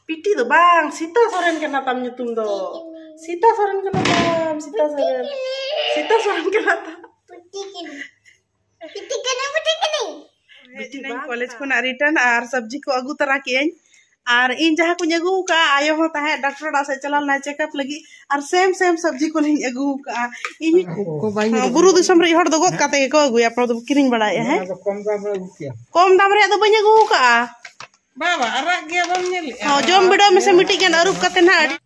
ᱯᱤᱴᱤ ᱫᱚ ᱵᱟᱝ ᱥᱤᱛᱟ ᱥᱚᱨᱮᱱ ᱠᱟᱱᱟ ᱛᱟᱢ ᱧᱩᱛᱩᱢ ᱫᱚ ᱥᱤᱛᱟ ᱥᱚᱨᱮᱱ ᱠᱟᱱᱟ ᱛᱟᱢ ᱥᱤᱛᱟ ᱥᱚᱨᱮᱱ ᱥᱤᱛᱟ ᱥᱚᱨᱮᱱ ᱠᱟᱱᱟ ᱛᱟᱢ ᱠᱚᱞᱮᱡᱽ ᱠᱷᱚᱱᱟᱜ ᱨᱤᱴᱟᱨᱱ ᱟᱨ ᱥᱚᱵᱽᱡᱤ ᱠᱚ ᱟᱹᱜᱩ ᱛᱟᱨᱟ ᱠᱮᱜ ᱟᱹᱧ ᱟᱨ ᱤᱧ ᱡᱟᱦᱟᱸ ᱠᱚᱧ ᱟᱹᱜᱩ ᱟᱠᱟᱫᱼᱟ ᱟᱭᱳ ᱦᱚᱸ ᱛᱟᱦᱮᱸᱫ ᱰᱟᱠᱴᱚᱨ ᱚᱲᱟᱜ ᱥᱮᱫ ᱪᱟᱞᱟᱣ ᱞᱮᱱᱟᱭ ᱪᱮᱠᱟᱯ ᱞᱟᱹᱜᱤᱫ ᱟᱨ ᱥᱮᱢ ᱥᱮᱢ ᱥᱚᱵᱽᱡᱤ ᱠᱚᱞᱤᱧ ᱟᱹᱜᱩ ᱠᱟᱜᱼᱟ ᱤᱧ ᱵᱩᱨᱩ ᱫᱤᱥᱚᱢ ᱨᱮ ᱦᱚᱲ ᱫᱚ ᱜᱚᱫ ᱠᱟᱛᱮ ᱜᱮᱠᱚ ᱟᱹᱜᱩᱭᱟ ᱟᱯᱱᱟᱨ ᱫᱚ ᱠᱤᱨᱤᱧ ᱵᱟᱲᱟᱭᱮᱫᱼᱟ ᱦᱮᱸ ᱠᱚᱢ ᱫᱟᱢ ᱨᱮᱭᱟᱜ ᱫᱚ ᱵᱟᱹᱧ ᱟᱹᱜᱩ ᱠᱟᱜᱼᱟ ᱵᱟᱵᱟ ᱟᱨᱟᱜ ᱜᱮ ᱵᱟᱢ ᱧᱮᱞᱮᱜᱼᱟ ᱦᱚᱸ ᱡᱚᱢ ᱵᱤᱰᱟᱹᱣ ᱢᱮᱥᱮ ᱢᱤᱫᱴᱤᱡ ᱜᱟᱱ ᱟᱹᱨᱩᱵ ᱠᱟᱛᱮ ᱱᱟᱜ ᱟᱹᱰᱤ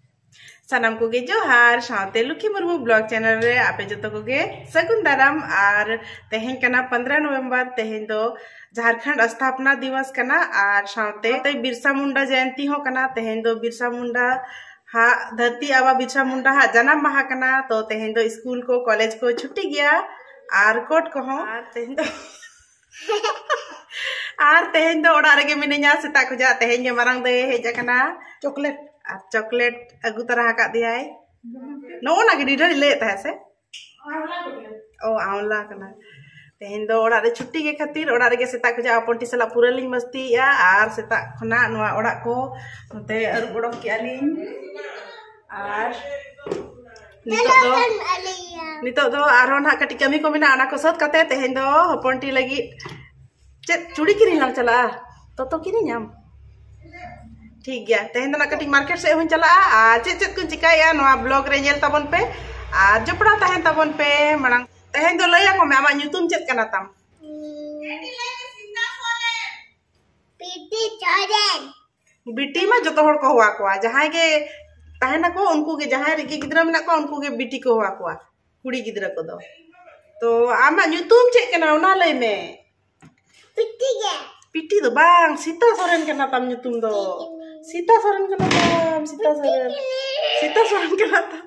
ᱥᱟᱱᱟᱢ ᱠᱚᱜᱮ ᱡᱚᱦᱟᱨ ᱥᱟᱶᱛᱮ ᱞᱩᱠᱷᱤ ᱢᱩᱨᱢᱩ ᱵᱞᱚᱜ ᱪᱮᱱᱮᱞ ᱨᱮ ᱟᱯᱮ ᱡᱚᱛᱚ ᱠᱚᱜᱮ ᱥᱟᱹᱜᱩᱱ ᱫᱟᱨᱟᱢ ᱟᱨ ᱛᱮᱦᱮᱧ ᱠᱟᱱᱟ ᱯᱚᱱᱫᱨᱚ ᱱᱚᱵᱷᱮᱢᱵᱚᱨ ᱛᱮᱦᱮᱧ ᱫᱚ ᱡᱷᱟᱨᱠᱷᱚᱸᱰ ᱥᱛᱷᱟᱯᱱᱟ ᱫᱤᱵᱚᱥ ᱠᱟᱱᱟ ᱟᱨ ᱥᱟᱶᱛᱮ ᱵᱤᱨᱥᱟ ᱢᱩᱱᱰᱟ ᱡᱚᱭᱚᱱᱛᱤ ᱦᱚᱸ ᱠᱟᱱᱟ ᱛᱮᱦᱮᱧ ᱫᱚ ᱵᱤᱨᱥᱟ ᱢᱩᱱᱰᱟ ᱦᱟ ᱫᱷᱟᱹᱨᱛᱤ ᱟᱵᱟ ᱵᱤᱨᱥᱟ ᱢᱩᱱᱰᱟ ᱦᱟ ᱡᱟᱱᱟᱢ ᱢᱟᱦᱟ ᱠᱟᱱᱟ ᱛᱚ ᱛᱮᱦᱮᱧ ᱫᱚ ᱥᱠᱩᱞ ᱠᱚ ᱠᱚᱞᱮᱡᱽ ᱠᱚ ᱪᱷᱩᱴᱤ ᱜᱮᱭᱟ ᱟᱨ ᱠᱳᱴ ᱠᱚᱦᱚᱸ ᱟᱨ ᱛᱮᱦᱮᱧ ᱫᱚ ᱟᱨ ᱛᱮᱦᱮᱧ ᱫᱚ ᱚᱲᱟᱜ ᱨᱮᱜᱮ ᱢᱤᱱᱟᱹᱧᱟ ᱥᱮᱛᱟᱜ ᱠᱷᱚᱡᱟᱜ ᱛᱮᱦᱮᱧ ᱜᱮ ᱢᱟᱨᱟᱝ ᱫᱟᱹᱭ ᱦᱮᱡ ᱟᱠᱟᱱᱟ ᱪᱚᱠᱞᱮᱴ ᱟᱨ ᱪᱚᱠᱞᱮᱴ ᱟᱹᱜᱩ ᱛᱟᱨᱟ ᱟᱠᱟᱫ ᱫᱮᱭᱟᱭ ᱱᱚᱜᱼᱚ ᱱᱟ ᱜᱮ ᱰᱤᱰᱷᱟᱹᱲᱤ ᱞᱟᱹᱭᱮᱫ ᱛᱟᱦᱮᱸᱫ ᱥᱮ ᱚ ᱟᱣᱞᱟ ᱠᱟᱱᱟ ᱛᱮᱦᱮᱧ ᱫᱚ ᱚᱲᱟᱜ ᱨᱮ ᱪᱷᱩᱴᱤ ᱜᱮ ᱠᱷᱟᱹᱛᱤᱨ ᱚᱲᱟᱜ ᱨᱮᱜᱮ ᱥᱮᱛᱟᱜ ᱠᱷᱚᱱᱟᱜ ᱟᱯᱚᱱᱴᱤ ᱥᱟᱞᱟᱜ ᱯᱩᱨᱟᱹ ᱞᱤᱧ ᱢᱟᱹᱥᱛᱤᱭᱮᱜᱼᱟ ᱟᱨ ᱥᱮᱛᱟᱜ ᱠᱷᱚᱱᱟᱜ ᱱᱚᱣᱟ ᱚᱲᱟᱜ ᱠᱚ ᱱᱚᱛᱮ ᱟᱹᱨᱩᱵ ᱚᱰᱚᱠ ᱠᱮᱜᱼᱟ ᱞᱤᱧ ᱟᱨ ᱱᱤᱛᱚᱜ ᱫᱚ ᱱᱤᱛᱚᱜ ᱫᱚ ᱟᱨᱦᱚᱸ ᱱᱟᱦᱟᱜ ᱠᱟᱹᱴᱤᱡ ᱠᱟᱹᱢᱤ ᱠᱚ ᱢᱮᱱᱟᱜᱼᱟ ᱚᱱᱟ ᱠᱚ ᱥᱟᱹᱛ ᱠᱟᱛᱮ ᱛᱮᱦᱮᱧ ᱫᱚ ᱦᱚᱯᱚᱱᱴᱤ ᱞᱟᱹᱜᱤᱫ ᱪᱮᱫ ᱪᱩᱲᱤ ᱠᱤᱨᱤᱧ ᱞᱟᱝ ᱪᱟᱞᱟᱜᱼᱟ ᱛᱚᱛᱚ ᱠᱤᱨᱤᱧᱟᱢ ᱴᱷᱤᱠ ᱜᱮᱭᱟ ᱛᱮᱦᱮᱧ ᱫᱚ ᱱᱟᱜ ᱠᱟᱹᱴᱤᱡ ᱢᱟᱨᱠᱮᱴ ᱥᱮᱫ ᱦᱚᱧ ᱪᱟᱞᱟᱜᱼᱟ ᱟᱨ ᱪᱮᱫ ᱪᱮᱫ ᱠᱚᱧ ᱪᱤᱠᱟᱹᱭᱟ ᱱᱚᱣᱟ ᱵᱞᱚᱜ ᱨᱮ ᱧᱮᱞ ᱛᱟᱵᱚᱱ ᱯᱮ ᱟᱨ ᱡᱚᱯᱲᱟᱣ ᱛᱟᱦᱮᱱ ᱛᱟᱵᱚᱱ ᱯᱮ ᱢᱟᱲᱟᱝ ᱛᱮᱦᱮᱧ ᱫᱚ ᱞᱟᱹᱭ ᱟᱠᱚ ᱢᱮ ᱟᱢᱟᱜ ᱧᱩᱛᱩᱢ ᱪᱮᱫ ᱠᱟᱱᱟ ᱛᱟᱢ ᱯᱤᱴᱤ ᱪᱚᱨᱮᱱ ᱵᱤᱴᱤ ᱢᱟ ᱡᱚᱛᱚ ᱦᱚᱲ ᱠᱚ ᱦᱚᱦᱚᱣᱟ ᱠᱚᱣᱟ ᱡᱟᱦᱟᱸᱭ ᱜᱮ ᱛᱟᱦᱮᱱᱟᱠᱚ ᱩᱱᱠᱩ ᱜᱮ ᱡᱟᱦᱟᱸᱭ ᱨᱮᱜᱮ ᱜᱤᱫᱽᱨᱟᱹ ᱢᱮᱱᱟᱜ ᱠᱚᱣᱟ ᱩᱱᱠᱩ ᱜᱮ ᱵᱤᱴᱤ ᱠᱚ ᱦᱚᱦᱚᱣᱟ ᱠᱚᱣᱟ ᱠᱩᱲᱤ ᱜᱤᱫᱽᱨᱟᱹ ᱠᱚᱫᱚ ᱛᱚ ᱟᱢᱟᱜ ᱧᱩᱛᱩᱢ ᱪᱮᱫ ᱠᱟᱱᱟ ᱚᱱᱟ ᱞᱟᱹᱭ ᱢᱮ ᱯᱤᱴᱤ ᱜᱮ ᱯᱤᱴᱤ ᱫᱚ ᱵᱟᱝ ᱥᱤᱛᱟ ᱥᱚᱨᱮᱱ ᱠᱟᱱᱟ ᱛᱟᱢ ᱧᱩᱛᱩᱢ ᱫᱚ ᱥᱤᱛᱟ ᱥᱚᱨᱮᱱ ᱠᱟᱱᱟ ᱛᱟᱢ ᱥᱤᱛᱟ ᱥᱚᱨᱮᱱ ᱥᱤᱛᱟ ᱥᱚᱨᱮᱱ ᱠᱟᱱᱟ ᱛᱟᱢ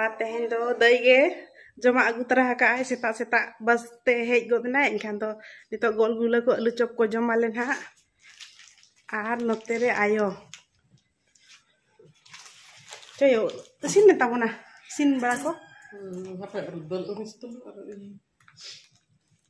ᱟᱨ ᱛᱮᱦᱮᱧ ᱫᱚ ᱫᱟᱹᱭ ᱜᱮ ᱡᱚᱢᱟᱜ ᱟᱹᱜᱩ ᱛᱚᱨᱟ ᱟᱠᱟᱫ ᱟᱭ ᱥᱮᱛᱟᱜ ᱥᱮᱛᱟᱜ ᱵᱟᱥ ᱛᱮ ᱦᱮᱡ ᱜᱚᱫ ᱮᱱᱟᱭ ᱮᱱᱠᱷᱟᱱ ᱫᱚ ᱱᱤᱛᱚᱜ ᱜᱚᱞ ᱜᱩᱞᱟᱹ ᱠᱚ ᱟᱹᱞᱩ ᱪᱚᱯ ᱠᱚ ᱡᱚᱢ ᱟᱞᱮ ᱱᱟᱦᱟᱜ ᱟᱨ ᱱᱚᱛᱮ ᱨᱮ ᱟᱭᱳ ᱪᱚᱭᱳ ᱤᱥᱤᱱ ᱢᱮ ᱛᱟᱵᱚᱱᱟ ᱤᱥᱤᱱ ᱵᱟᱲᱟ ᱠᱚ ᱦᱟᱯᱮ ᱫᱟᱹᱞ ᱟᱹᱨᱩ ᱥᱤᱛᱩᱝ ᱟᱨ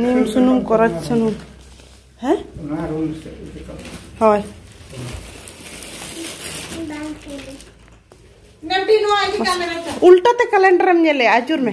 ᱱᱤᱢ ᱥᱩᱱᱩᱢ ᱠᱚᱨᱚᱪ ᱥᱩᱱᱩᱢ ᱦᱮᱸ ᱦᱳᱭ ᱩᱞᱴᱟᱹ ᱛᱮ ᱠᱮᱞᱮᱱᱰᱟᱨᱮᱢ ᱧᱮᱞᱮ ᱟᱹᱪᱩᱨ ᱢᱮ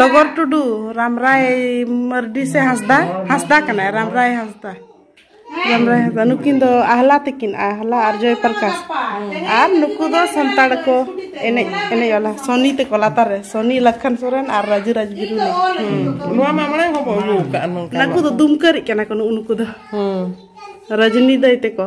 ᱰᱚᱜᱚᱨ ᱴᱩᱰᱩ ᱨᱟᱢᱨᱟᱭ ᱢᱟᱨᱰᱤ ᱥᱮ ᱦᱟᱸᱥᱫᱟ ᱦᱟᱸᱥᱫᱟ ᱠᱟᱱᱟᱭ ᱨᱟᱢᱨᱟᱭ ᱦᱟᱸᱥᱫᱟ ᱨᱟᱢᱨᱟᱭ ᱦᱟᱸᱥᱫᱟ ᱱᱩᱠᱤᱱ ᱫᱚ ᱟᱦᱞᱟ ᱛᱤᱠᱤᱱ ᱟᱦᱞᱟ ᱟᱨ ᱡᱚᱭ ᱯᱨᱚᱠᱟᱥ ᱟᱨ ᱱᱩᱠᱩ ᱫᱚ ᱥᱟᱱᱛᱟᱲ ᱠᱚ ᱮᱱᱮᱡ ᱮᱱᱮᱡ ᱚᱞᱟ ᱥᱚᱱᱤ ᱛᱮᱠᱚ ᱞᱟᱛᱟᱨ ᱨᱮ ᱥᱚᱱᱤ ᱞᱟᱠᱷᱟᱱ ᱥᱚᱨᱮᱱ ᱟᱨ ᱨᱟᱡᱩ ᱨᱟᱡᱽ ᱵᱤᱨᱩ ᱱᱚᱣᱟ ᱢᱟ ᱢᱟᱲᱟᱝ ᱦᱚᱸ ᱵᱚ ᱟᱹᱜᱩ ᱠᱟᱜᱼᱟ ᱱᱚᱝᱠᱟ ᱱᱩᱠᱩ ᱫᱚ ᱫᱩᱢᱠᱟᱹᱨᱤᱡ ᱠᱟᱱᱟ ᱠᱚ ᱱᱩᱠᱩ ᱫᱚ ᱨᱟᱡᱽᱱᱤ ᱫᱟᱹᱭ ᱛᱮᱠᱚ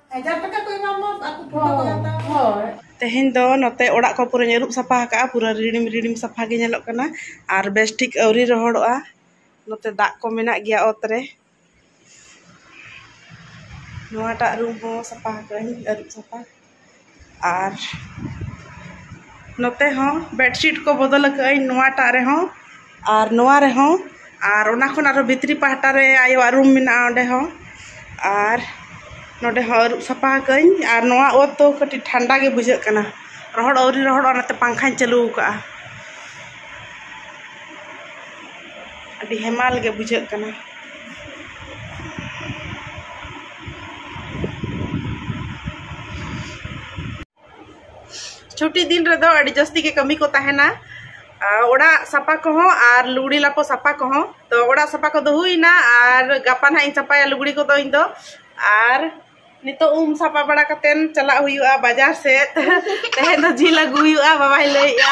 ᱛᱮᱦᱮᱧ ᱫᱚ ᱱᱚᱛᱮ ᱚᱲᱟᱜ ᱠᱚ ᱯᱩᱨᱟᱹᱧ ᱟᱹᱨᱩᱵ ᱥᱟᱯᱷᱟ ᱟᱠᱟᱫᱼᱟ ᱯᱩᱨᱟᱹ ᱨᱤᱲᱤᱢ ᱨᱤᱲᱤᱢ ᱥᱟᱯᱷᱟ ᱜᱮ ᱧᱮᱞᱚᱜ ᱠᱟᱱᱟ ᱟᱨ ᱵᱮᱥ ᱴᱷᱤᱠ ᱟᱹᱣᱨᱤ ᱨᱚᱦᱚᱲᱚᱜᱼᱟ ᱱᱚᱛᱮ ᱫᱟᱜ ᱠᱚ ᱢᱮᱱᱟᱜ ᱜᱮᱭᱟ ᱚᱛ ᱨᱮ ᱱᱚᱣᱟᱴᱟᱜ ᱨᱩᱢ ᱦᱚᱸ ᱥᱟᱯᱷᱟ ᱟᱠᱟᱫᱟᱹᱧ ᱟᱹᱨᱩᱵ ᱥᱟᱯᱷᱟ ᱟᱨ ᱱᱚᱛᱮ ᱦᱚᱸ ᱵᱮᱰᱥᱤᱴ ᱠᱚ ᱵᱚᱫᱚᱞ ᱠᱟᱜ ᱟᱹᱧ ᱱᱚᱣᱟᱴᱟᱜ ᱨᱮᱦᱚᱸ ᱟᱨ ᱱᱚᱣᱟ ᱨᱮᱦᱚᱸ ᱟᱨ ᱚᱱᱟ ᱠᱷᱚᱱ ᱟᱨᱦᱚᱸ ᱵᱷᱤᱛᱨᱤ ᱯᱟᱦᱴᱟ ᱨᱮ ᱟᱭᱳᱣᱟᱜ ᱨᱩᱢ ᱢᱮᱱᱟᱜᱼᱟ ᱚᱸᱰᱮ ᱦᱚᱸ ᱟᱨ ᱱᱚᱰᱮ ᱦᱚᱸ ᱟᱹᱨᱩᱵ ᱥᱟᱯᱷᱟ ᱠᱟᱜ ᱟᱹᱧ ᱟᱨ ᱱᱚᱣᱟ ᱚᱛ ᱫᱚ ᱠᱟᱹᱴᱤᱡ ᱴᱷᱟᱱᱰᱟ ᱜᱮ ᱵᱩᱡᱷᱟᱹᱜ ᱠᱟᱱᱟ ᱨᱚᱦᱚᱲ ᱟᱹᱣᱨᱤ ᱨᱚᱦᱚᱲᱚᱜᱼᱟ ᱚᱱᱟᱛᱮ ᱯᱟᱝᱠᱷᱟᱧ ᱪᱟᱹᱞᱩ ᱠᱟᱜᱼᱟ ᱟᱹᱰᱤ ᱦᱮᱢᱟᱞ ᱜᱮ ᱵᱩᱡᱷᱟᱹᱜ ᱠᱟᱱᱟ ᱪᱷᱩᱴᱤ ᱫᱤᱱ ᱨᱮᱫᱚ ᱟᱹᱰᱤ ᱡᱟᱹᱥᱛᱤ ᱜᱮ ᱠᱟᱹᱢᱤ ᱠᱚ ᱛᱟᱦᱮᱱᱟ ᱚᱲᱟᱜ ᱥᱟᱯᱟ ᱠᱚᱦᱚᱸ ᱟᱨ ᱞᱩᱜᱽᱲᱤ ᱞᱟᱯᱚ ᱥᱟᱯᱟ ᱠᱚᱦᱚᱸ ᱛᱚ ᱚᱲᱟᱜ ᱥᱟᱯᱟ ᱠᱚᱫᱚ ᱦᱩᱭᱱᱟ ᱟᱨ ᱜᱟᱯᱟ ᱱᱟᱦᱟᱜ ᱤᱧ ᱥᱟᱯᱟᱭᱟ ᱞᱩᱜᱽᱲᱤ ᱠᱚᱫᱚ ᱤᱧ ᱫᱚ ᱟᱨ ᱱᱤᱛᱚᱜ ᱩᱢ ᱥᱟᱯᱟ ᱵᱟᱲᱟ ᱠᱟᱛᱮᱱ ᱪᱟᱞᱟᱜ ᱦᱩᱭᱩᱜᱼᱟ ᱵᱟᱡᱟᱨ ᱥᱮᱫ ᱛᱮᱦᱮᱧ ᱫᱚ ᱡᱤᱞ ᱟᱹᱜᱩ ᱦᱩᱭᱩᱜᱼᱟ ᱵᱟᱵᱟᱭ ᱞᱟᱹᱭᱮᱜᱼᱟ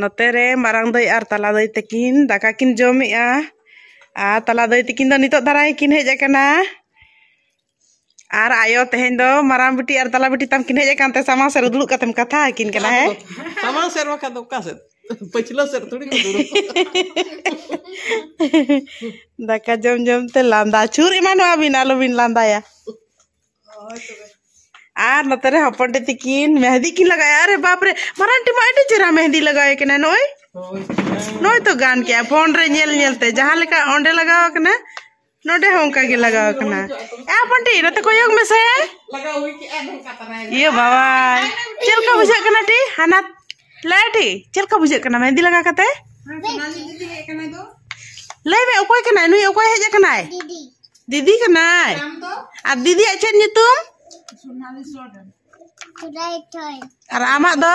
ᱱᱚᱛᱮ ᱨᱮ ᱢᱟᱨᱟᱝ ᱫᱟᱹᱭ ᱟᱨ ᱛᱟᱞᱟ ᱫᱟᱹᱭ ᱛᱟᱹᱠᱤᱱ ᱫᱟᱠᱟ ᱠᱤᱱ ᱡᱚᱢᱮᱜᱼᱟ ᱟᱨ ᱛᱟᱞᱟ ᱫᱟᱹᱭ ᱛᱟᱹᱠᱤᱱ ᱫᱚ ᱱᱤᱛᱚᱜ ᱫᱷᱟᱨᱟ ᱜᱮᱠᱤᱱ ᱦᱮᱡ ᱟᱠᱟᱱᱟ ᱟᱨ ᱟᱭᱳ ᱛᱮᱦᱮᱧ ᱫᱚ ᱢᱟᱨᱟᱝ ᱵᱤᱴᱤ ᱟᱨ ᱛᱟᱞᱟ ᱵᱤᱴᱤ ᱛᱟᱢ ᱠᱤᱱ ᱦᱮᱡ ᱟᱠᱟᱱ ᱛᱮ ᱥᱟᱢᱟᱝ ᱥᱮᱫ ᱨᱮ ᱫᱩᱲᱩᱵ ᱠᱟᱛᱮᱢ ᱠᱟᱛᱷᱟ ᱟᱹᱠᱤᱱ ᱠᱟᱱᱟ ᱦᱮᱸ ᱥᱟᱢᱟᱝ ᱥᱮᱫ ᱵᱟᱠᱷᱟᱱ ᱫᱚ ᱚᱠᱟ ᱥᱮᱫ ᱯᱟᱹᱪᱷᱞᱟᱹ ᱥᱮᱫ ᱛᱷᱚᱲᱤ ᱠᱚ ᱫᱩᱲᱩᱵ ᱫᱟᱠᱟ ᱡᱚᱢ ᱡᱚᱢ ᱛᱮ ᱞᱟᱸᱫᱟ ᱪᱷᱩᱨ ᱮᱢᱟᱱᱚᱜᱼᱟ ᱵᱤᱱ ᱟᱞᱚᱵᱤᱱ ᱞᱟᱸᱫᱟᱭᱟ ᱟᱨ ᱱᱚᱛᱮ ᱨᱮ ᱦᱚᱯᱚᱱ ᱴᱮ ᱛᱤᱠᱤᱱ ᱢᱮᱦᱫᱤ ᱠᱤᱱ ᱞᱟᱜᱟᱭᱟ ᱟᱨᱮ ᱵᱟᱯ ᱨᱮ ᱢᱟᱨᱟᱝ ᱴᱤ ᱢᱟ ᱟᱹᱰᱤ ᱪᱮᱦᱨᱟ ᱢᱮᱦᱫᱤ ᱞᱟᱜᱟᱣ ᱠᱟᱱᱟ ᱱᱚᱭ ᱱᱚᱭ ᱛᱚ ᱜᱟᱱ ᱠᱮᱜᱼᱟ ᱯᱷᱳᱱ ᱨᱮ ᱧᱮᱞ ᱧᱮᱞ ᱛᱮ ᱡᱟᱦᱟᱸ ᱞᱮᱠᱟ ᱚᱸᱰᱮ ᱞᱟᱜᱟᱣ ᱠᱟᱱᱟ ᱱᱚᱰᱮ ᱦᱚᱸ ᱚᱱᱠᱟ ᱜᱮ ᱞᱟᱜᱟᱣ ᱠᱟᱱᱟ ᱮ ᱦᱚᱯᱚᱱ ᱴᱤ ᱱᱚᱛᱮ ᱠᱚᱭᱚᱜ ᱢᱮᱥᱮ ᱤᱭᱟᱹ ᱵᱟᱵᱟ ᱪᱮᱫ ᱞᱮᱠᱟ ᱵᱩᱡᱷᱟᱹᱜ ᱠᱟᱱᱟ ᱴᱤ ᱦᱟᱱᱟ ᱞᱟᱹᱭᱰᱤ ᱪᱮᱫ ᱞᱮᱠᱟ ᱵᱩᱡᱷᱟᱹᱜ ᱠᱟᱱᱟ ᱢᱮᱦᱮᱱᱫᱤ ᱞᱟᱜᱟ ᱠᱟᱛᱮ ᱞᱟᱹᱭ ᱢᱮ ᱚᱠᱚᱭ ᱠᱟᱱᱟᱭ ᱱᱩᱭ ᱚᱠᱚᱭ ᱦᱮᱡ ᱟᱠᱟᱱᱟᱭ ᱫᱤᱫᱤ ᱠᱟᱱᱟᱭ ᱟᱨ ᱫᱤᱫᱤᱭᱟᱜ ᱪᱮᱫ ᱧᱩᱛᱩᱢ ᱟᱨ ᱟᱢᱟᱜ ᱫᱚ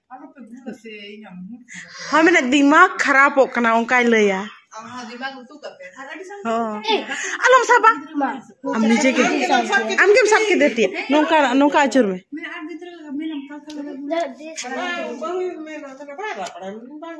ᱦᱳᱭ ᱢᱟᱱᱮ ᱫᱤᱢᱟᱜᱽ ᱠᱷᱟᱨᱟᱯᱚᱜ ᱠᱟᱱᱟ ᱚᱱᱠᱟᱭ ᱞᱟᱹᱭᱟ ᱟᱞᱚᱢ ᱥᱟᱵᱟ ᱟᱢ ᱱᱤᱡᱮ ᱜᱮ ᱟᱢ ᱜᱮᱢ ᱥᱟᱵ ᱠᱮᱫᱮ ᱛᱤᱭᱟ ᱱᱚᱝᱠᱟ ᱱᱚᱝᱠᱟ ᱟᱹᱪᱩᱨ ᱢᱮ ᱵᱟᱝ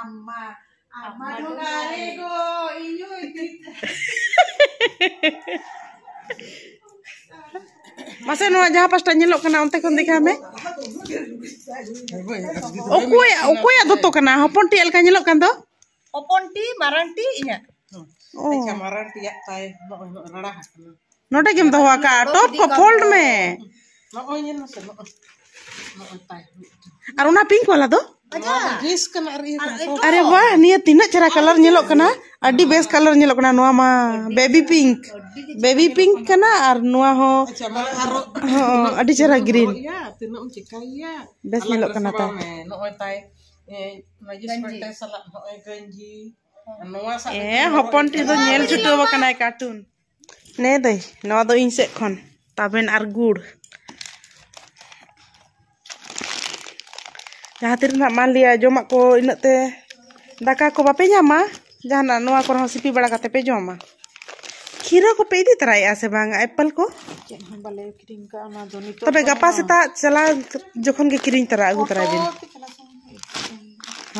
ᱟᱢᱢᱟ ᱟᱢᱢᱟ ᱰᱷᱚᱜᱟᱨᱮ ᱜᱚ ᱤᱧᱩ ᱤᱫᱤ ᱢᱟᱥᱮ ᱱᱚᱣᱟ ᱡᱟᱦᱟᱸ ᱯᱟᱥᱴᱟ ᱧᱮᱞᱚᱜ ᱠᱟᱱᱟ ᱚᱱᱛᱮ ᱠᱷᱚᱱ ᱫᱮᱠᱷᱟᱣ ᱢᱮ ᱚᱠᱚᱭᱟᱜ ᱚᱠᱚᱭᱟᱜ ᱫᱚᱛᱚ ᱠᱟᱱᱟ ᱦᱚᱯᱚᱱ ᱴᱤ ᱞᱮᱠᱟ ᱧᱮᱞᱚᱜ ᱠᱟᱱ ᱫᱚ ᱦᱚᱯᱚᱱ ᱴᱤ ᱢᱟᱨᱟᱝ ᱴᱤ ᱤᱧᱟᱹᱜ ᱱᱚᱰᱮ ᱜᱮᱢ ᱫᱚᱦᱚ ᱟᱠᱟᱫᱼᱟ ᱴᱚᱯ ᱠᱚ ᱯᱷᱳᱞᱰ ᱢᱮ ᱟᱨ ᱚᱱᱟ ᱯᱤᱝᱠ ᱵᱟᱞᱟ ᱫᱚ ᱟᱨᱮ ᱵᱟ ᱱᱤᱭᱟᱹ ᱛᱤᱱᱟᱹᱜ ᱪᱮᱦᱨᱟ ᱠᱟᱞᱟᱨ ᱧᱮᱞᱚᱜ ᱠᱟᱱᱟ ᱟᱹᱰᱤ ᱵᱮᱥ ᱠᱟᱞᱟᱨ ᱧᱮᱞᱚᱜ ᱠᱟᱱᱟ ᱱᱚᱣᱟ ᱢᱟ ᱵᱮᱵᱤ ᱯᱤᱝᱠ ᱵᱮᱵᱤ ᱯᱤᱝᱠ ᱠᱟᱱᱟ ᱟᱨ ᱱᱚᱣᱟ ᱦᱚᱸ ᱟᱹᱰᱤ ᱪᱮᱦᱨᱟ ᱜᱨᱤᱱ ᱵᱮᱥ ᱧᱮᱞᱚᱜ ᱠᱟᱱᱟ ᱛᱟᱭ ᱮ ᱦᱚᱯᱚᱱ ᱴᱤ ᱫᱚ ᱧᱮᱞ ᱪᱷᱩᱴᱟᱹᱣ ᱟᱠᱟᱱᱟᱭ ᱠᱟᱨᱴᱩᱱ ᱱᱮ ᱫᱟᱹᱭ ᱱᱚᱣᱟ ᱫᱚ ᱤᱧ ᱥᱮᱫ ᱠᱷᱚᱱ ᱛᱟᱵᱮᱱ ᱟᱨ ᱜᱩᱲ ᱡᱟᱦᱟᱸ ᱛᱤᱨᱮ ᱱᱟᱜ ᱢᱟᱱ ᱞᱤᱭᱟ ᱡᱚᱢᱟᱜ ᱠᱚ ᱤᱱᱟᱹᱜ ᱛᱮ ᱫᱟᱠᱟ ᱠᱚ ᱵᱟᱯᱮ ᱧᱟᱢᱟ ᱡᱟᱦᱟᱱᱟᱜ ᱱᱚᱣᱟ ᱠᱚᱨᱮ ᱦᱚᱸ ᱥᱤᱯᱤ ᱵᱟᱲᱟ ᱠᱟᱛᱮ ᱯᱮ ᱡᱚᱢᱟ ᱠᱷᱤᱨᱟᱹ ᱠᱚᱯᱮ ᱤᱫᱤ ᱛᱚᱨᱟᱭᱮᱜᱼᱟ ᱥᱮ ᱵᱟᱝ ᱮᱯᱮᱞ ᱠᱚ ᱪᱮᱫ ᱦᱚᱸ ᱵᱟᱞᱮ ᱠᱤᱨᱤᱧ ᱠᱟᱜᱼᱟ ᱚᱱᱟ ᱫᱚ ᱱᱤᱛᱚᱜ ᱛᱚᱵᱮ ᱜᱟᱯᱟ ᱥᱮᱛᱟᱜ ᱪᱟᱞᱟᱣ ᱡᱚᱠᱷᱚᱱ ᱜᱮ ᱠᱤᱨᱤᱧ ᱛᱚᱨᱟ ᱟᱹᱜᱩ ᱛᱚᱨᱟᱭ ᱵᱤᱱ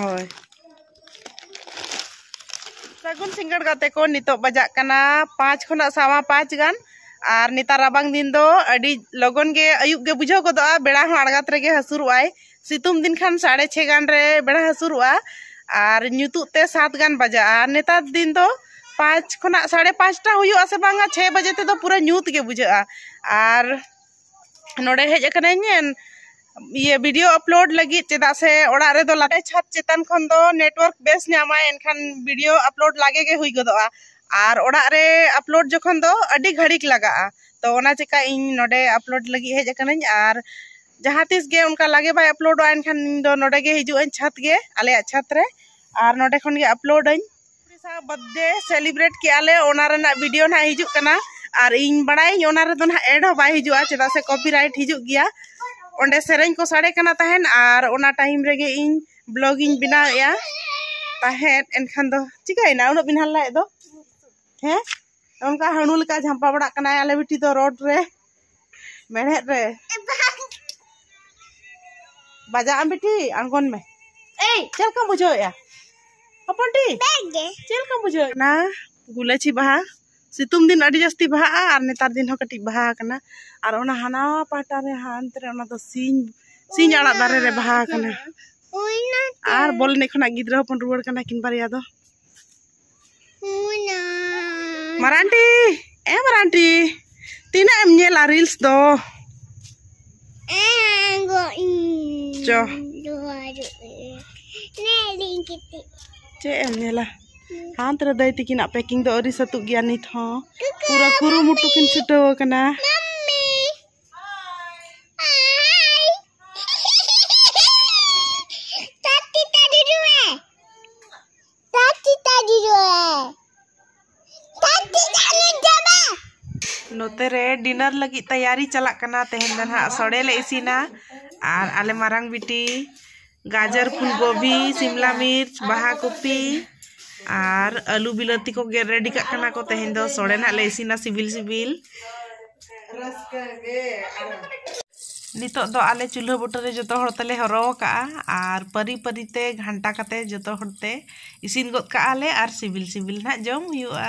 ᱦᱳᱭ ᱥᱟᱹᱜᱩᱱ ᱥᱤᱸᱜᱟᱹᱲ ᱜᱟᱛᱮ ᱠᱚ ᱱᱤᱛᱚᱜ ᱵᱟᱡᱟᱜ ᱠᱟᱱᱟ ᱯᱟᱸᱪ ᱠᱷᱚᱱᱟᱜ ᱥᱟᱣᱟ ᱯᱟᱸᱪ ᱜᱟᱱ ᱟᱨ ᱱᱮᱛᱟᱨ ᱨᱟᱵᱟᱝ ᱫᱤᱱ ᱫᱚ ᱟᱹᱰᱤ ᱞᱚᱜᱚᱱ ᱜᱮ ᱟᱹᱭᱩᱵ ᱜᱮ ᱵᱩᱡᱷᱟᱹᱣ ᱜᱚᱫᱚᱜᱼᱟ ᱵᱮᱲᱟ ᱦᱚᱸ ᱟᱬᱜᱟᱛ ᱨᱮᱜᱮ ᱦᱟᱹᱥᱩᱨᱚᱜᱼᱟᱭ ᱥᱤᱛᱩᱝ ᱫᱤᱱ ᱠᱷᱟᱱ ᱥᱟᱲᱮ ᱪᱷᱮ ᱜᱟᱱ ᱨᱮ ᱵᱮᱲᱟ ᱦᱟᱹᱥᱩᱨᱚᱜᱼᱟ ᱟᱨ ᱧᱩᱛᱩᱜ ᱛᱮ ᱥᱟᱛ ᱜᱟᱱ ᱵᱟᱡᱟᱜᱼᱟ ᱱᱮᱛᱟᱨ ᱫᱤᱱ ᱫᱚ ᱯᱟᱸᱪ ᱠᱷᱚᱱᱟᱜ ᱥᱟᱲᱮ ᱯᱟᱸᱪᱴᱟ ᱦᱩᱭᱩᱜᱼᱟ ᱥᱮ ᱵᱟᱝᱟ ᱪᱷᱮ ᱵᱟᱡᱮ ᱛᱮᱫᱚ ᱯᱩᱨᱟᱹ ᱧᱩᱛ ᱜᱮ ᱵᱩᱡᱷᱟᱹᱜᱼᱟ ᱟᱨ ᱱᱚᱰᱮ ᱦᱮᱡ ᱟᱠᱟᱱᱟᱹᱧ ᱤᱭᱟᱹ ᱵᱷᱤᱰᱤᱭᱳ ᱟᱯᱞᱳᱰ ᱞᱟᱹᱜᱤᱫ ᱪᱮᱫᱟᱜ ᱥᱮ ᱚᱲᱟᱜ ᱨᱮᱫᱚ ᱞᱟᱛᱟᱨ ᱪᱷᱟᱫᱽ ᱪᱮᱛᱟᱱ ᱠᱷᱚᱱ ᱫᱚ ᱱᱮᱴᱣᱟᱨᱠ ᱵᱮᱥ ᱧᱟᱢᱟᱭ ᱮᱱᱠᱷᱟᱱ ᱵᱷᱤᱰᱤᱭᱳ ᱟᱯᱞᱳᱰ ᱞᱟᱜᱮ ᱜᱮ ᱦᱩᱭ ᱜᱚᱫᱚᱜᱼᱟ ᱟᱨ ᱚᱲᱟᱜ ᱨᱮ ᱟᱯᱞᱳᱰ ᱡᱚᱠᱷᱚᱱ ᱫᱚ ᱟᱹᱰᱤ ᱜᱷᱟᱹᱲᱤᱠ ᱞᱟᱜᱟᱜᱼᱟ ᱛᱚ ᱚᱱᱟ ᱪᱮᱠᱟ ᱤᱧ ᱱᱚᱰᱮ ᱟᱯᱞᱳᱰ ᱞᱟᱹᱜᱤᱫ ᱦᱮᱡ ᱟᱠᱟᱱᱟᱹᱧ ᱟᱨ ᱡᱟᱦᱟᱸ ᱛᱤᱥ ᱜᱮ ᱚᱱᱠᱟ ᱞᱟᱜᱮ ᱵᱟᱭ ᱟᱯᱞᱳᱰᱚᱜᱼᱟ ᱮᱱᱠᱷᱟᱱ ᱤᱧ ᱫᱚ ᱱᱚᱰᱮ ᱜᱮ ᱦᱤᱡᱩᱜ ᱟᱹᱧ ᱪᱷᱟᱫᱽ ᱜᱮ ᱟᱞᱮᱭᱟᱜ ᱪᱷᱟᱫᱽ ᱨᱮ ᱟᱨ ᱱᱚᱰᱮ ᱠᱷᱚᱱ ᱜᱮ ᱟᱯᱞᱳᱰ ᱟᱹᱧ ᱵᱟᱨᱛᱷᱰᱮ ᱥᱮᱞᱤᱵᱨᱮᱴ ᱠᱮᱜᱼᱟ ᱞᱮ ᱚᱱᱟ ᱨᱮᱱᱟᱜ ᱵᱷᱤᱰᱤᱭᱳ ᱱᱟᱦᱟᱜ ᱦᱤᱡᱩᱜ ᱠᱟᱱᱟ ᱟᱨ ᱤᱧ ᱵᱟᱲᱟᱭᱟᱹᱧ ᱚᱱᱟ ᱨᱮᱫᱚ ᱱᱟᱦᱟᱜ ᱮᱰ ᱦᱚᱸ ᱵᱟᱭ ᱦᱤᱡᱩᱜᱼᱟ ᱪᱮᱫᱟᱜ ᱥᱮ ᱠᱚᱯᱤᱨᱟᱭᱤᱴ ᱦᱤᱡᱩᱜ ᱜᱮᱭᱟ ᱚᱸᱰᱮ ᱥᱮᱨᱮᱧ ᱠᱚ ᱥᱟᱰᱮ ᱠᱟᱱᱟ ᱛᱟᱦᱮᱸᱫ ᱟᱨ ᱚᱱᱟ ᱴᱟᱭᱤᱢ ᱨᱮᱜᱮ ᱤᱧ ᱵᱞᱚᱜ ᱤᱧ ᱵᱮᱱᱟᱣᱮᱜᱼᱟ ᱛᱟᱦᱮᱸᱫ ᱮᱱᱠᱷᱟᱱ ᱫᱚ ᱪᱤᱠᱟᱹᱭᱮᱱᱟ ᱩᱱᱟᱹᱜ ᱵᱤᱱ ᱦᱟᱞᱞᱟᱭᱮᱫ ᱫᱚ ᱦᱮᱸ ᱚᱱᱠᱟ ᱦᱟᱹᱬᱩ ᱞᱮᱠᱟ ᱡᱷᱟᱢᱯᱟ ᱵᱟᱲᱟᱜ ᱠᱟᱱᱟᱭ ᱟᱞᱮ ᱵᱤᱴᱤ ᱫᱚ ᱨᱳᱰ ᱨᱮ ᱢᱮᱲᱦᱮᱫ ᱨᱮ ᱵᱟᱡᱟᱜ ᱟᱢ ᱵᱤᱴᱤ ᱟᱬᱜᱚᱱ ᱢᱮ ᱮᱭ ᱪᱮᱫ ᱞᱮᱠᱟᱢ ᱵᱩᱡᱷᱟᱹᱣᱮᱜᱼᱟ ᱦᱚᱯᱚᱱ ᱴᱤ ᱪᱮᱫ ᱞᱮᱠᱟᱢ ᱵᱩᱡᱷᱟᱹᱣᱮᱫ ᱠᱟᱱᱟ ᱜᱩᱞᱟᱹᱪᱤ ᱵᱟᱦᱟ ᱥᱤᱛᱩᱝ ᱫᱤᱱ ᱟᱹᱰᱤ ᱡᱟᱹᱥᱛᱤ ᱵᱟᱦᱟᱜᱼᱟ ᱟᱨ ᱱᱮᱛᱟᱨ ᱫᱤᱱ ᱦᱚᱸ ᱠᱟᱹᱴᱤᱡ ᱵᱟᱦᱟ ᱟᱠᱟᱱᱟ ᱟᱨ ᱚᱱᱟ ᱦᱟᱱᱟ ᱯᱟᱦᱴᱟ ᱨᱮ ᱦᱟᱱᱛᱮ ᱨᱮ ᱚᱱᱟ ᱫᱚ ᱥᱤᱧ ᱥᱤᱧ ᱟᱲᱟᱜ ᱫᱟᱨᱮ ᱨᱮ ᱵᱟᱦᱟ ᱟᱠᱟᱱᱟ ᱟᱨ ᱵᱚᱞ ᱮᱱᱮᱡ ᱠᱷᱚᱱᱟᱜ ᱜᱤᱫᱽᱨᱟᱹ ᱦᱚᱯᱚᱱ ᱨᱩᱣᱟᱹᱲ ᱠᱟᱱᱟ ᱠᱤᱱ ᱵᱟᱨᱭᱟ ᱫᱚ ᱢᱟᱨᱟᱱᱴᱤ ᱮ ᱢᱟᱨᱟᱱᱴᱤ ᱛᱤᱱᱟᱹᱜ ᱮᱢ ᱧᱮᱞᱟ ᱨᱤᱞᱥ ᱫᱚ ᱪᱚ ᱪᱮᱫ ᱮᱢ ᱧᱮᱞᱟ ᱦᱟᱱᱛᱮ ᱨᱮ ᱫᱟᱹᱭ ᱛᱤᱠᱤᱱᱟᱜ ᱯᱮᱠᱤᱝ ᱫᱚ ᱟᱹᱣᱨᱤ ᱥᱟᱹᱛᱩᱜ ᱜᱮᱭᱟ ᱱᱤᱛ ᱦᱚᱸ ᱯᱩᱨᱟᱹ ᱠᱩᱨᱩᱢᱩᱴᱩ ᱠᱤᱱ ᱪᱷᱩᱴᱟᱹᱣ ᱟᱠᱟᱱᱟ ᱱᱚᱛᱮ ᱨᱮ ᱰᱤᱱᱟᱨ ᱞᱟᱹᱜᱤᱫ ᱛᱮᱭᱟᱨᱤ ᱪᱟᱞᱟᱜ ᱠᱟᱱᱟ ᱛᱮᱦᱮᱧ ᱫᱚ ᱱᱟᱦᱟᱜ ᱥᱚᱲᱮ ᱞᱮ ᱤᱥᱤᱱᱟ ᱟᱨ ᱟᱞᱮ ᱢᱟᱨᱟᱝ ᱵᱤᱴᱤ ᱜᱟᱡᱚᱨ ᱯᱷᱩᱞ ᱜᱳᱵᱷᱤ ᱥᱤᱢᱞᱟ ᱢᱤᱨᱪ ᱵᱟᱦᱟ ᱠᱚᱯᱤ ᱟᱨ ᱟᱹᱞᱩ ᱵᱤᱞᱟᱹᱛᱤ ᱠᱚ ᱜᱮᱫ ᱨᱮᱰᱤ ᱠᱟᱜ ᱠᱟᱱᱟ ᱠᱚ ᱛᱮᱦᱮᱧ ᱫᱚ ᱥᱚᱲᱮ ᱱᱟᱦᱟᱜ ᱞᱮ ᱤᱥᱤᱱᱟ ᱥᱤᱵᱤᱞ ᱥᱤᱵᱤᱞ ᱱᱤᱛᱚᱜ ᱫᱚ ᱟᱞᱮ ᱪᱩᱞᱦᱟᱹ ᱵᱩᱴᱟᱹ ᱨᱮ ᱡᱚᱛᱚ ᱦᱚᱲ ᱛᱮᱞᱮ ᱦᱚᱨᱚ ᱟᱠᱟᱜᱼᱟ ᱟᱨ ᱯᱟᱹᱨᱤ ᱯᱟᱹᱨᱤ ᱛᱮ ᱜᱷᱟᱱᱴᱟ ᱠᱟᱛᱮ ᱡᱚᱛᱚ ᱦᱚᱲ ᱛᱮ ᱤᱥᱤᱱ ᱜᱚᱫ ᱠᱟᱜᱼᱟ ᱞᱮ ᱟᱨ ᱥᱤᱵᱤᱞ ᱥᱤᱵᱤᱞ ᱱᱟᱜ ᱡᱚᱢ ᱦᱩᱭᱩᱜᱼᱟ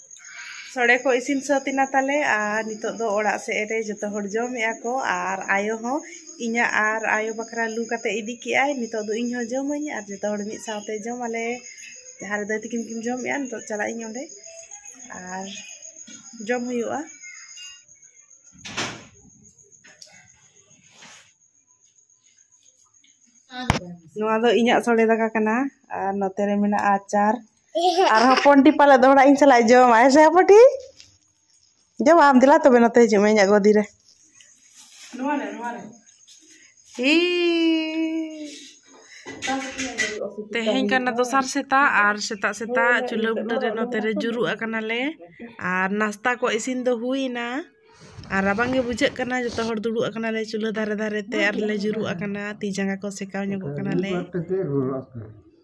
ᱥᱚᱲᱮ ᱠᱚ ᱤᱥᱤᱱ ᱥᱟᱹᱛ ᱮᱱᱟ ᱛᱟᱞᱮ ᱟᱨ ᱱᱤᱛᱚᱜ ᱫᱚ ᱚᱲᱟᱜ ᱥᱮᱫ ᱨᱮ ᱡᱚᱛᱚ ᱦᱚᱲ ᱡᱚᱢᱮᱜᱼᱟ ᱠᱚ ᱟᱨ ᱟᱭᱳ ᱦᱚᱸ ᱤᱧᱟᱹᱜ ᱟᱨ ᱟᱭᱳ ᱵᱟᱠᱷᱨᱟ ᱞᱩ ᱠᱟᱛᱮ ᱤᱫᱤ ᱠᱮᱜᱼᱟᱭ ᱱᱤᱛᱚᱜ ᱫᱚ ᱤᱧ ᱦᱚᱸ ᱡᱚᱢᱟᱹᱧ ᱟᱨ ᱡᱚᱛᱚ ᱦᱚᱲ ᱢᱤᱫ ᱥᱟᱶᱛᱮ ᱡᱚᱢ ᱟᱞᱮ ᱡᱟᱦᱟᱸ ᱨᱮ ᱫᱟᱹᱭ ᱛᱤᱠᱤᱱ ᱠᱤᱱ ᱡᱚᱢᱮᱜᱼᱟ ᱱᱤᱛᱚᱜ ᱪᱟᱞᱟᱜ ᱤᱧ ᱚᱸᱰᱮ ᱟᱨ ᱡᱚᱢ ᱦᱩᱭᱩᱜᱼᱟ ᱱᱚᱣᱟ ᱫᱚ ᱤᱧᱟᱹᱜ ᱥᱚᱲᱮ ᱫᱟᱠᱟ ᱠᱟᱱᱟ ᱟᱨ ᱱᱚᱛᱮ ᱨᱮ ᱢᱮᱱᱟᱜᱼᱟ ᱟᱪᱟᱨ ᱟᱨ ᱦᱚᱯᱚᱱᱴᱤ ᱯᱟᱞᱮ ᱫᱚᱦᱲᱟ ᱤᱧ ᱥᱟᱞᱟᱜ ᱡᱚᱢᱟᱭ ᱥᱮ ᱦᱚᱯᱚᱱᱴᱤ ᱡᱚᱢ ᱟᱢ ᱫᱮᱞᱟ ᱛᱚᱵᱮ ᱱᱚᱛᱮ ᱦᱤᱡᱩᱜ ᱢᱮ ᱤᱧᱟᱹᱜ ᱜᱚᱫᱤ ᱨᱮ ᱱᱚᱣᱟ ᱨᱮ ᱱᱚᱣᱟ ᱨᱮ ᱦᱤ ᱛᱮᱦᱮᱧ ᱠᱟᱱᱟ ᱫᱚᱥᱟᱨ ᱥᱮᱛᱟᱜ ᱟᱨ ᱥᱮᱛᱟᱜ ᱥᱮᱛᱟᱜ ᱪᱩᱞᱦᱟᱹ ᱵᱩᱴᱟᱹ ᱨᱮ ᱱᱚᱛᱮ ᱨᱮ ᱡᱩᱨᱩᱜ ᱟᱠᱟᱱᱟᱞᱮ ᱟᱨ ᱱᱟᱥᱛᱟ ᱠᱚ ᱤᱥᱤᱱ ᱫᱚ ᱦᱩᱭᱱᱟ ᱟᱨ ᱨᱟᱵᱟᱝ ᱜᱮ ᱵᱩᱡᱷᱟᱹᱜ ᱠᱟᱱᱟ ᱡᱚᱛᱚ ᱦᱚᱲ ᱫᱩᱲᱩᱵ ᱟᱠᱟᱱᱟᱞᱮ ᱪᱩᱞᱦᱟᱹ ᱫᱷᱟᱨᱮ ᱫᱷᱟᱨᱮ ᱛᱮ ᱟᱨ ᱞᱮ ᱡᱩᱨᱩᱜ ᱟᱠᱟᱱᱟ ᱛᱤ ᱡᱟᱸᱜᱟ ᱠᱚ ᱥᱮᱠᱟᱣ ᱧᱚᱜᱚᱜ ᱠᱟᱱᱟᱞᱮ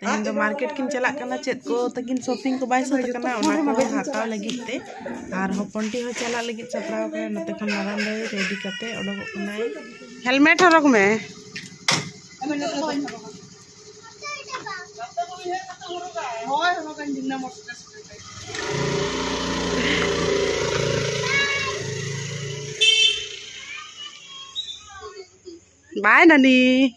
ᱛᱮᱦᱮᱧ ᱫᱚ ᱢᱟᱨᱠᱮᱴ ᱠᱤᱱ ᱪᱟᱞᱟᱜ ᱠᱟᱱᱟ ᱪᱮᱫ ᱠᱚ ᱛᱟᱹᱠᱤᱱ ᱥᱚᱯᱤᱝ ᱠᱚ ᱵᱟᱭ ᱥᱟᱹᱛ ᱠᱟᱱᱟ ᱚᱱᱟ ᱠᱚ ᱦᱟᱛᱟᱣ ᱞᱟᱹᱜᱤᱫ ᱛᱮ ᱟᱨ ᱦᱚᱯᱚᱱ ᱴᱤ ᱦᱚᱸ ᱪᱟᱞᱟᱜ ᱞᱟᱹᱜᱤᱫ ᱥᱟᱯᱲᱟᱣ ᱠᱟᱱᱟ ᱱᱚᱛᱮ ᱠᱷᱚᱱ ᱢᱟᱨᱟᱝ ᱫᱚᱭ ᱨᱮᱰᱤ ᱠᱟᱛᱮ ᱚᱰᱚᱠᱚᱜ ᱠᱟᱱᱟᱭ ᱦᱮᱞᱢᱮᱴ ᱦᱚᱨᱚᱜ ᱢᱮ ᱦᱳᱭ ᱦᱚᱨᱚᱜᱟᱹᱧ ᱫᱤᱱᱟᱹᱢ ᱢᱚᱴᱚᱨ Bye, Nani.